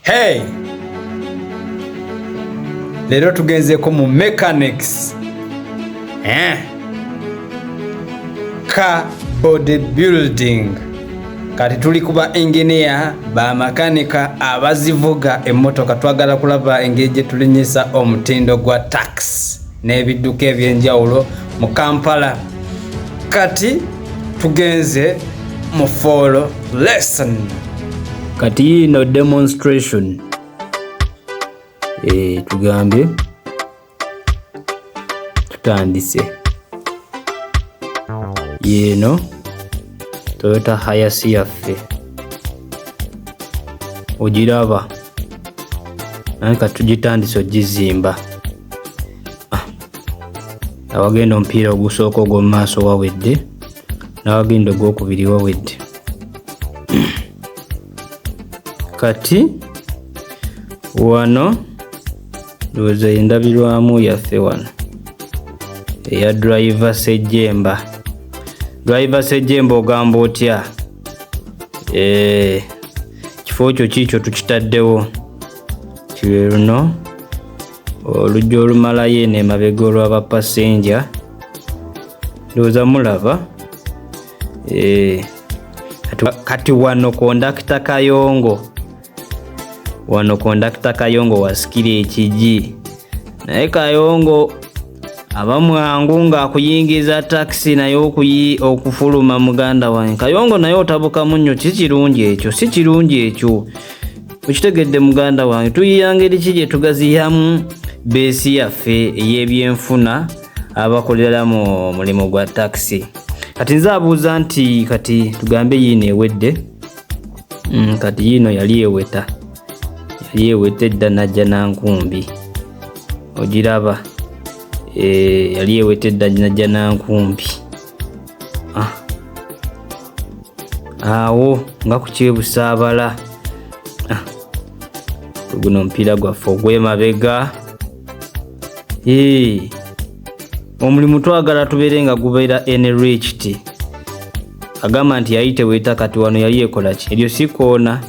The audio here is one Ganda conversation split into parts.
Hey! Leero tugenzeeko mu mechanics. Eh. Ka body building. Kati tuli kuba engineer ba makanika abazivuga emmotoka twagala kulaba engeri gye tulinyisa omutindo gwa taxi. n'ebidduka eby'enjawulo mu Kampala. Kati tugenze mu foolo lesson. Kati yiino demonstration e, tugambye tutandise yeeno Toyota Hiace yaffe ogiraba naye katugitandise ogizimba awagenda omupiira ogusooka ogw'omu maaso wawedde n'awagenda ogwokubiri wawedde kati wano ndowooza endabirwamu yaffe wano eya driva sejemba driva sejemba ogamba otya eh, kifo kyo kiikyo tukitaddewo kiri luno oluggi olumalayo eno emabega olwa bapasenja ndowooza mulaba eh, kati wano kondakita kayongo wano kondakita kayongo wasikira ekigi naye kayongo abamwangu ng'akuyingiza takisi naye okuyi okufuluma muganda wange kayongo naye otabukamu nnyo si kirungi ekyo si kirungi ekyo okitegedde muganda wange tuyiya ngeri ki gye tugaziyamu beesi yaffe ey'ebyenfuna abakoleramu omulimu gwa takisi kati nze abuuza nti kati tugambe yiino ewedde mm, kati yiino yali eweta yali eweta edda najja nankumbi ogiraba eh, yali eweta edda najja nankumbi ah. awo nga kukyebusaabala ah. guno omupiira gwaffe ogwemabega eh. omulimu twagala tubeere nga gubeera enrichti agamba nti yali teweeta kati wano yali ekolaki eryo sikoona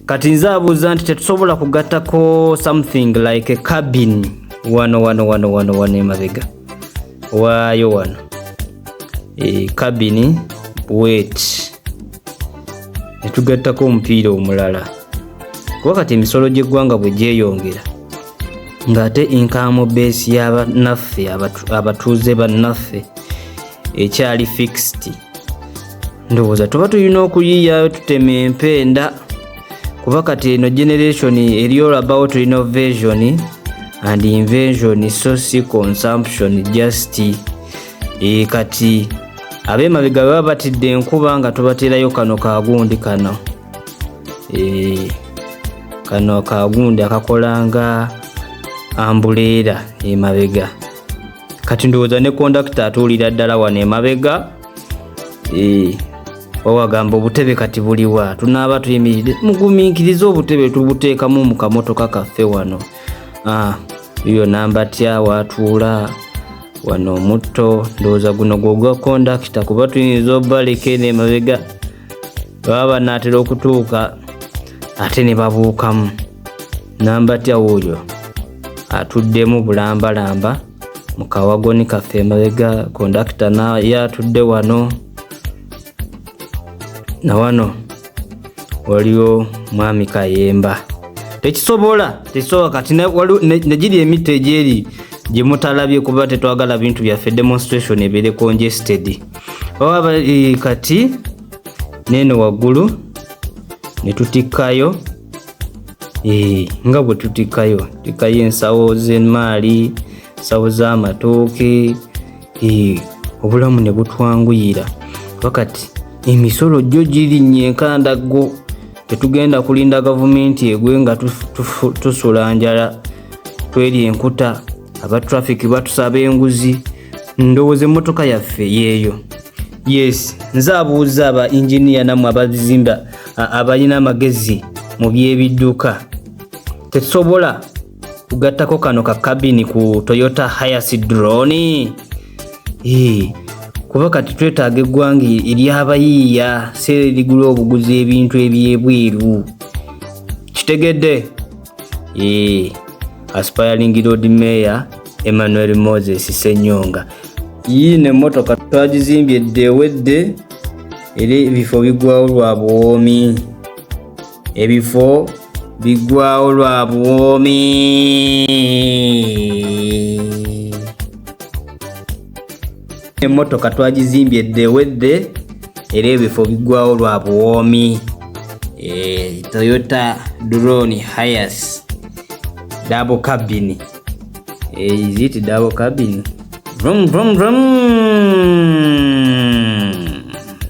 kati nze abuuza nti tetusobola kugattako something like cabin wano wano wano wano wano emabega waayo wano e, cabin wet netugattako omupiira omulala kuba kati emisolo gy'eggwanga bwe gyeyongera ng'ate inkamu beesi y'abanaffe abatuuze bannaffe ekyali fixed ndowooza tuba tulina okuyiyayo tutema empenda kuba kati eno generation eri all about innovation and invention so si consumption just e, kati abemabega baba batidde enkuba nga tubaterayo kano kagundi kano e, kano kagundi akakola nga ambuleera emabega kati ndowooza ne kondakita atuulira ddala wano emabega eh, wawagamba obutebe kati buliwa tunaaba tuyimiride muguminkirize obutebe tubuteekamu mu kamotoka kaffe wano ah, yo namba tya watuula wano omutto ndowooza guno gwogwa kondakita kuba tuyinza obaleka eno emabega baba banaatera okutuuka ate ne babuukamu namba tya wuuyo atuddemu bulambalamba mu kawagoni kaffe emabega kondakita naye atudde wano na wano waliwo mwami kayemba tekisobola tekisobola kati negiri emita egyeri gyemutalabye kuba tetwagala bintu byaffe demonstration ebeere congested oba bali kati nene waggulu netutikkayo eh, nga bwe tutikayo tikayo ensawo z'emaali ensawo z'amatooke eh, obulamu ne butwanguyira wakati emisolo gyo girinnye enkandaggo tetugenda kulinda gavumenti egwe nga tusula njala tweri enkuta aba traffic batusaba enguzi ndowooza emmotoka yaffe yeeyo yes nze abuuza aba inginiya namwe abazimba abalina amagezi mu by'ebidduka tetusobola kugattako kano ka kabini ku toyota hayas drone kuba kati twetaaga eggwanga ery'abayiiya seera erigula obuguzi ebintu eby'ebweru kitegedde Eee, aspiring Lord Mayor Emmanuel Moses Senyonga. Yii ne motoka twagizimbye dde ewedde era ebifo bigwawo lwa buwoomi. Ebifo bigwawo lwa buwoomi. emmotoka twagizimbye dde ewedde era ebifo biggwawo lwa buwoomi e, toyota drone hias double cabin e, is it double cabin vroom vroom vroom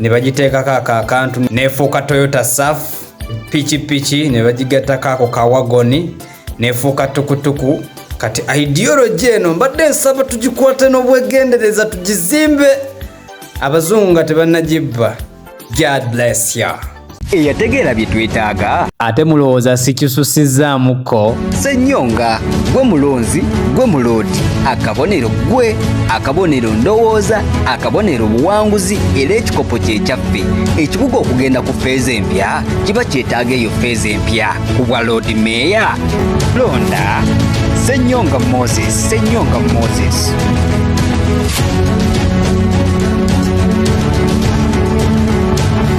ne bagiteekako ako akantu neefuuka toyota saf pikipiki ne bagigattako ako kawagoni neefuuka tukutuku kati ideology eno mbadde nsaba tugikwate n'obwegendereza tugizimbe abazungu nga tebannagibba god bless ya eyategeera bye twetaaga ate mulowooza sikisusizzaamuko senyonga gwe mulonzi gwe muloodi akabonero gwe akabonero ndowooza akabonero obuwanguzi era ekikopo kyekyaffe ekibuga okugenda ku feeza empya kiba kyetaaga eyo feeza empya ku bwa loodi meeya londa senyonga moses senyonga moses